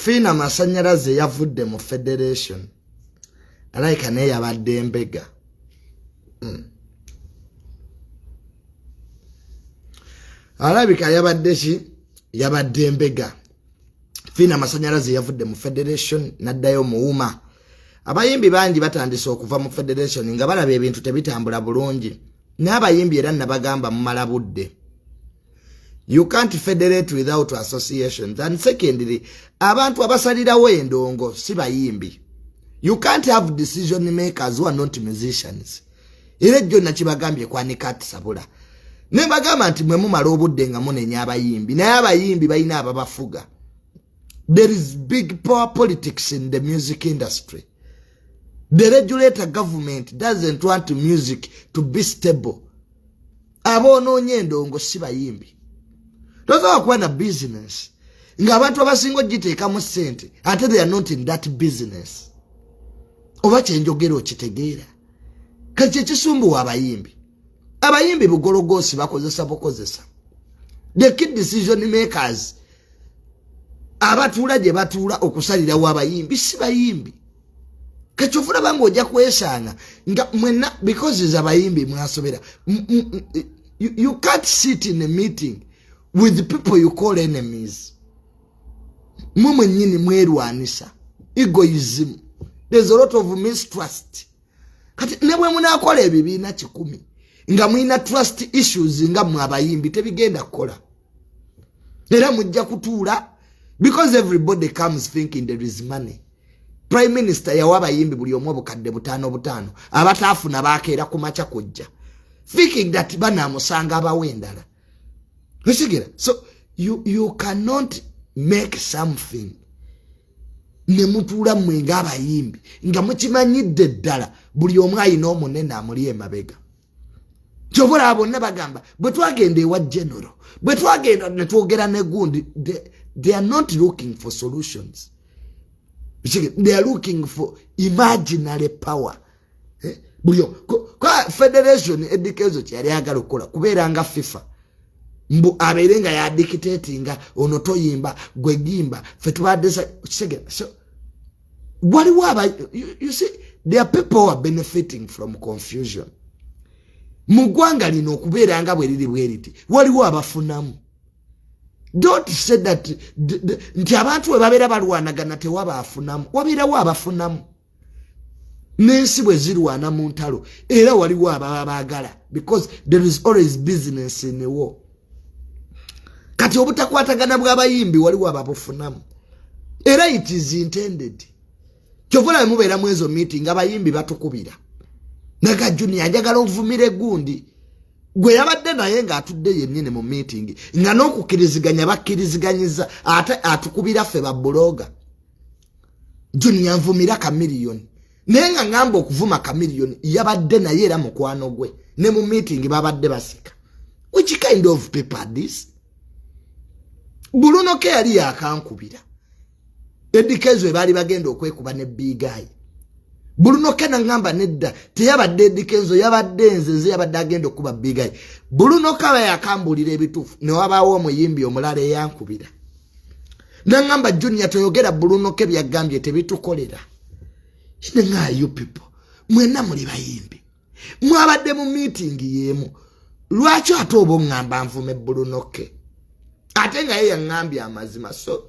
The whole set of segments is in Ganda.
fiina masanyalaze yavudde mu federation alayika naye yabadde mbega hmm. alabika yabadde ki yabadde mbega fiina amasanyalaze yavudde mu federation naddayo muwuma abayimbi bangi batandise okuva mu federation nga balaba ebintu tebitambula bulungi n'abayimbi era nabagamba mumala budde you can't federate without associations and secondly abantu abasalirawo endongo si bayimbi you can't have decision makers who are not musicians era ejjo nakibagambye kwanika atisabula ne bagamba nti mwe mumala obudde nga munenya abayimbi naye abayimbi balina ababafuga there is big power politics in the music industry the regulator government doesn't want music to be stable aboonoonye endongo si bayimbi tosobola kuba na bizinesi ng'abantu abasinga ogiteekamu ssente ate they are not in that business oba kyenjogera okitegeera kati kyekisumbuwa abayimbi abayimbi bugologoosi bakozesa bukozesa the key decision makers abatuula gye batuula okusalirawo abayimbi si bayimbi kekyo fulaba nga ojja kwesanga nga mwena because is abayimbi mwasobera you, you can't sit in a meeting with people you call enemies mwe mwenyini mwerwanisa egoism there's a lot of mistrust kati ne bwe munakola ebibiina kikumi nga mulina trust issues nga mwe abayimbi tebigenda kukola era mujja kutuula because everybody comes thinking there is money prime minister yawa abayimbi buli omu obukadde butaano butaano abataafuna baakeera ku maca kujja thinking that banaamusanga abawo endala okitegera so you, you cannot make something ne mutuula mmwe ng'abayimbi nga mukimanyidde ddala buli omu ayina omunene amuli emabega kyobola abonna bagamba bwe twagenda ewa general bwe twagenda ne twogera ne gundi they are not looking for solutions they are looking for imaginary power eh? bulio kwa federation edikezo kyali agala okukola kubeera nga fifa mbu abeere nga yadikiteti nga ono toyimba gwegimba fetubadesa kisegera so waliwo aba you see there are people who are benefiting from confusion mu ggwanga lino okubeera nga bwe liri bwe liti waliwo abafunamu don't say that nti abantu we babeera balwanagana tewaba afunamu wabeerawo abafunamu n'ensi bwe zirwana mu ntalo era waliwo ababa baagala because there is always business in war kati obutakwatagana bwabayimbi waliwo ababufunamu era it is intended kyovola mubeera mu ezo meeting abayimbi batukubira naga junior njagala ovumire gundi gwe yabadde naye ng'atudde yennyini mu meeting nga n'okukkiriziganya bakkiriziganyiza ate atukubira ffe babuloga junior nvumira kamiliyoni naye nga ngamba okuvuma kamiliyoni yabadde naye era mukwano gwe ne mu meeting babadde basika which kind of paper this bulunoke yali yakankubira edikezo ebaali bagenda okwekuba ne bigayi bulunoke nangamba nedda teyabadde edikenzo yabadde nzenze yabadde agenda okukuba bigayi bulunoke aba yakambuulira ebituufu newabaawo omuyimbi omulala eyankubira nangamba junior toyogera bulunoke byagambye tebitukolera nga you people mwena muli bayimbi mwabadde mu meeting yemu lwaki ate oba oŋŋamba nvume bulunoke ate nga ye yaŋŋambye amazima so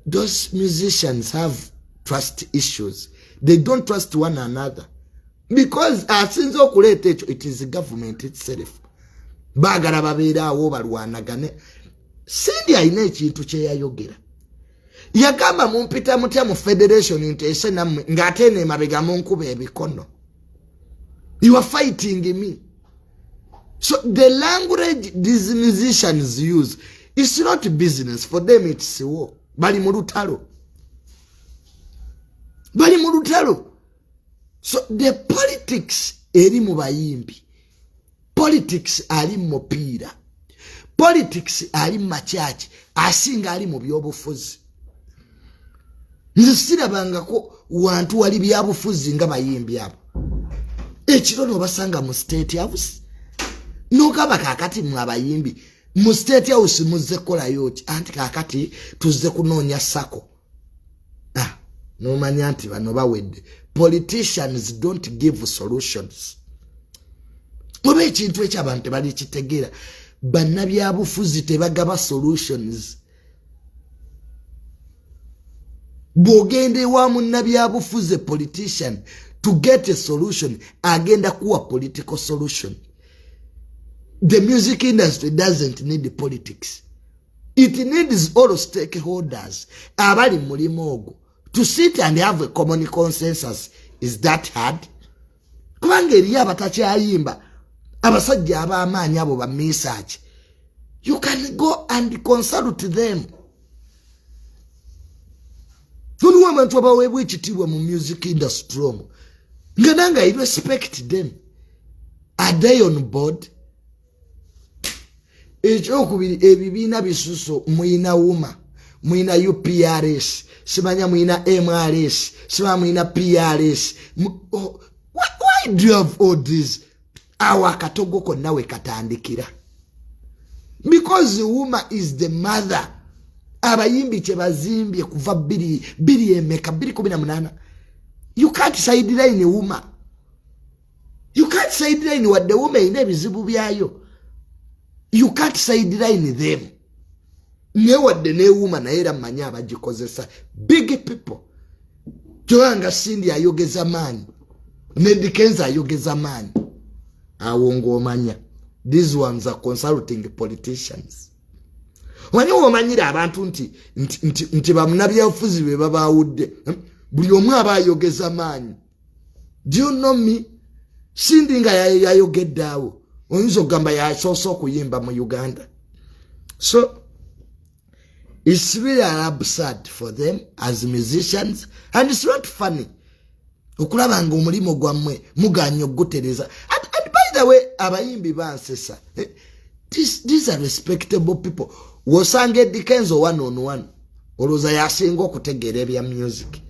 those musicians have trust issues they don't trust one another because asinze okuleeta ekyo it is government itself baagala babeeraawo balwanagane sindi alina ekintu kyeyayogera yagamba mumpita mutya mu federation nteese nammwe ng'ate eno emabega munkuba ebikono you are fighting me so the language these musicians use is not business for them it's war bali mu lutalo bali mu lutalo so the politics eri mu bayimbi politics ali mu mupiira politics ali mu makyaki asinga ali mu byobufuzi nze sirabangako wantu wali byabufuzi nga bayimbi abo ekiro nobasanga mu state house nogamba kakati mwe abayimbi mu state house muzze kukolayo ki anti kakati tuzze kunoonya sako ah, nomanya nti bano bawedde politicians don't give solutions oba ekintu ekyo abantu tebalikitegeera bannabyabufuzi tebagaba solutions bwogenda ewa munnabyabufuzi politician to get a solution agenda kuwa political solution the music industry doesn't need politics it needs all stakeholders abali mulimu ogwo to sit and have a common consensus is that hard kubanga eriyo abatakyayimba abasajja ab'amaanyi abo bamisaaki you can go and consult them toliwo abantu abaweebwa ekitiibwa mu music industry omu nga nange i respect them are they on board ekyokubiri ebibiina bisuso muyina wuma muyina uprs simanya muyina mrs simanya muyina prs oh, why do you have all this awo akatogo konna we katandikira because wuma is the mother abayimbi kyebazimbye kuva biri emeka biri kumi na munana you can't sideline wuma you can't sideline wadde wuma erina ebizibu byayo you can't sideline them naye wadde newuma naye era mmanyi abagikozesa big people kyoba nga sindi ayogeza maanyi nedikenza ayogeza maanyi awo ngaomanya these ones are consulting politicians wani womanyira abantu nti nti nti bamunabyabufuzi be babawudde buli omu aba ayogeza maanyi do you know me sindi nga yayogedde awo oyinza okugamba yasoose okuyimba mu uganda so its really absurd for them as musicians and its not funny okulaba nga omulimu gwammwe muganya okugutereza and, and by the way abayimbi bansesa eh, these are respectable people wosanga edikenzo one on one olowooza yasinga okutegeera ebya music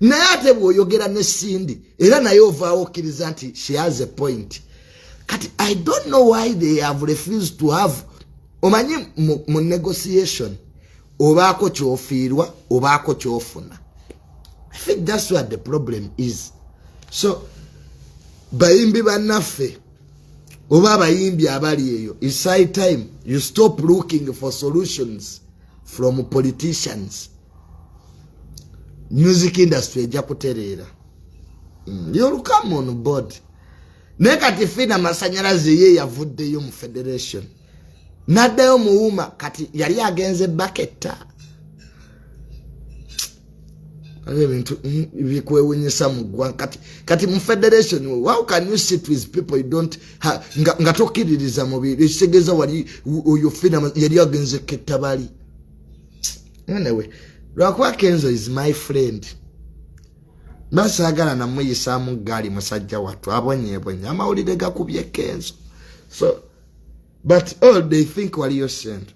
naye ate bwoyogera ne sindi era naye ovaawo okkiriza nti she has a point kati i don't know why they have refused to have omanyi mu negotiation obaako kyofiirwa obaako kyofuna i think that's what the problem is so bayimbi bannaffe oba abayimbi abali eyo isai time you stop looking for solutions from politicians music industry ejja kutereera mm, you'll come on board naye kati fiina amasanyalaze ye yavuddeyo mu federation n'addayo muwuuma kati yali agenze baketta ebyo ebintu mm, bikwewunyisa mu ggwanga kati kati mu federation how can you sit with people you don't ha, nga, nga tokkiririza mubiri ekitegeeza wali oyo fiina yali agenze kettabali anyway lwakuba kenzo is my friend nasagala namuyisamu gaali musajja wattu abonyebonye amawulire gakubye kenzo so but all they think waliyo sente